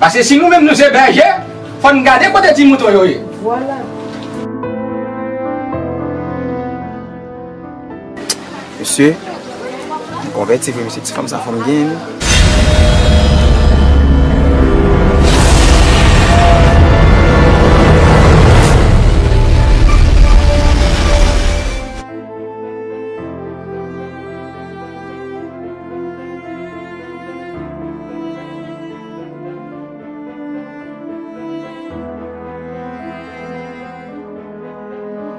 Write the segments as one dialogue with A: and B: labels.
A: Paske si nou menm nou
B: se bèje, fò n gade kote ti mouton yo ye.
A: Mesye, m konvèti vre mesye, ti fanm sa fanm byen wi.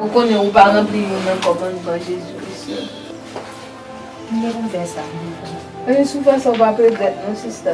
C: Ou konnen ou pa ranpli youn nan kòmandman Jezi Kris yo.
D: Kile pou fè sa? Sou fè
C: sa ou pa ap regrèt non sista.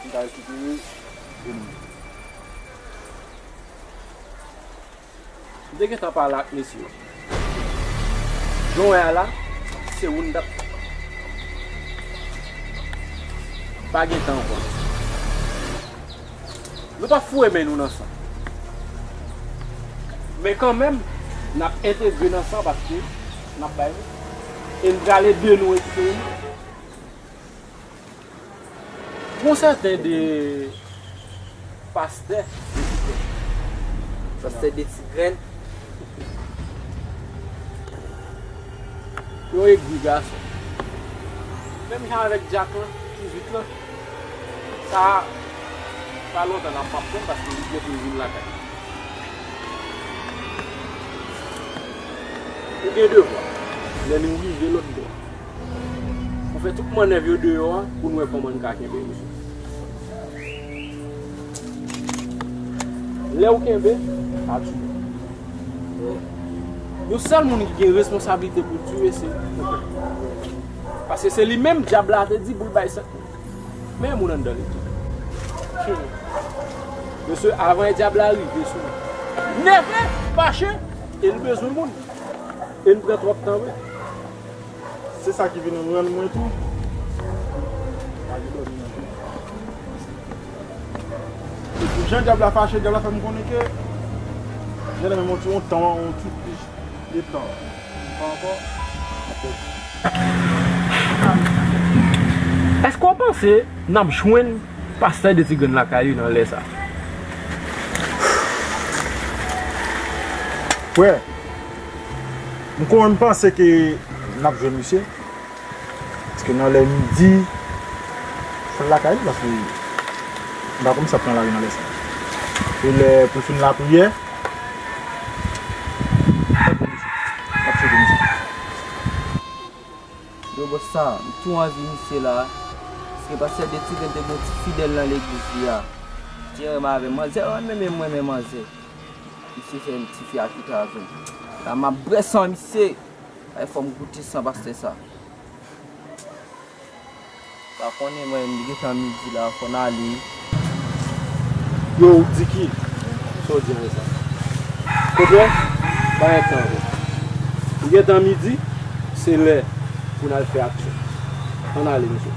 E: Pou m ka rekipere e m. M te gentan pale ak mesye yo. Jan w wè a la, se ou n t ap. Pa gen tan ankò. Nou pa foure men nou nan sa. Men kanmenm, n ap entegre nan sa paske n ap bay nou. E n prale de nou rekipere nou. Gon sèten de pastè de ti grenn.
A: Pastè de ti grenn.
E: Yon egri gason. Menm jan avèk dyak lan, kizit lan. Sa a, pa lontan nan pap konn paske li gen pou l vin lakay. Ou gen devwa. Lè nou rive lòtbò. Ou fè tout mannèv yo deyò a pou n wè kòman n ka kenbe yo sou. Lè ou kenbe, pa tiye. Yon sèl moun ki gen responsablite pou l tiye se ou. Paske se li menm dyab la te di pou l bay san. Meye moun anndan li tou. Mesye, avan dyab la rive sou ou. Nève, fache, e li bezwen moun. E n pran twòp tan vre.
A: Se sa ki vin rann mwen tou. E pou jan dyab la fache, dyab la fè m konnen ke jèn nan menm yon tan, yon ti plis de tan. Pa ankò ap pèdi. Eske w panse
E: n ap jwenn pastè de ti grenn lakay yo nan lè sa?
A: Frè! M konn panse ke n ap jwenn misye, paske nan lè midi, fò l lakay li, paske m pa konn sa k nan lari nan lè sa. Se lè pou l fin lapriyè, m pa jwenn misye, m ap chèche misye.
F: Yo bòs sa, m tou anvi misye la, paske pastè Detiven te gen yon ti fidèl nan legliz li a, ki renmen avè m. Manzè yo renmen m e m renmen manzè. Misye se yon tifi a kita a tou. La map bwè san misye. Ay fòm goute san pastè sa. Pa konnen mwen menm li gentan midi la fò n ale. Yo
E: ou di ki? Sa w di avè sa? Kote? Pa gen tan ankò. Li gentan midi, se lè pou n al fè aksyon. An n ale mesye.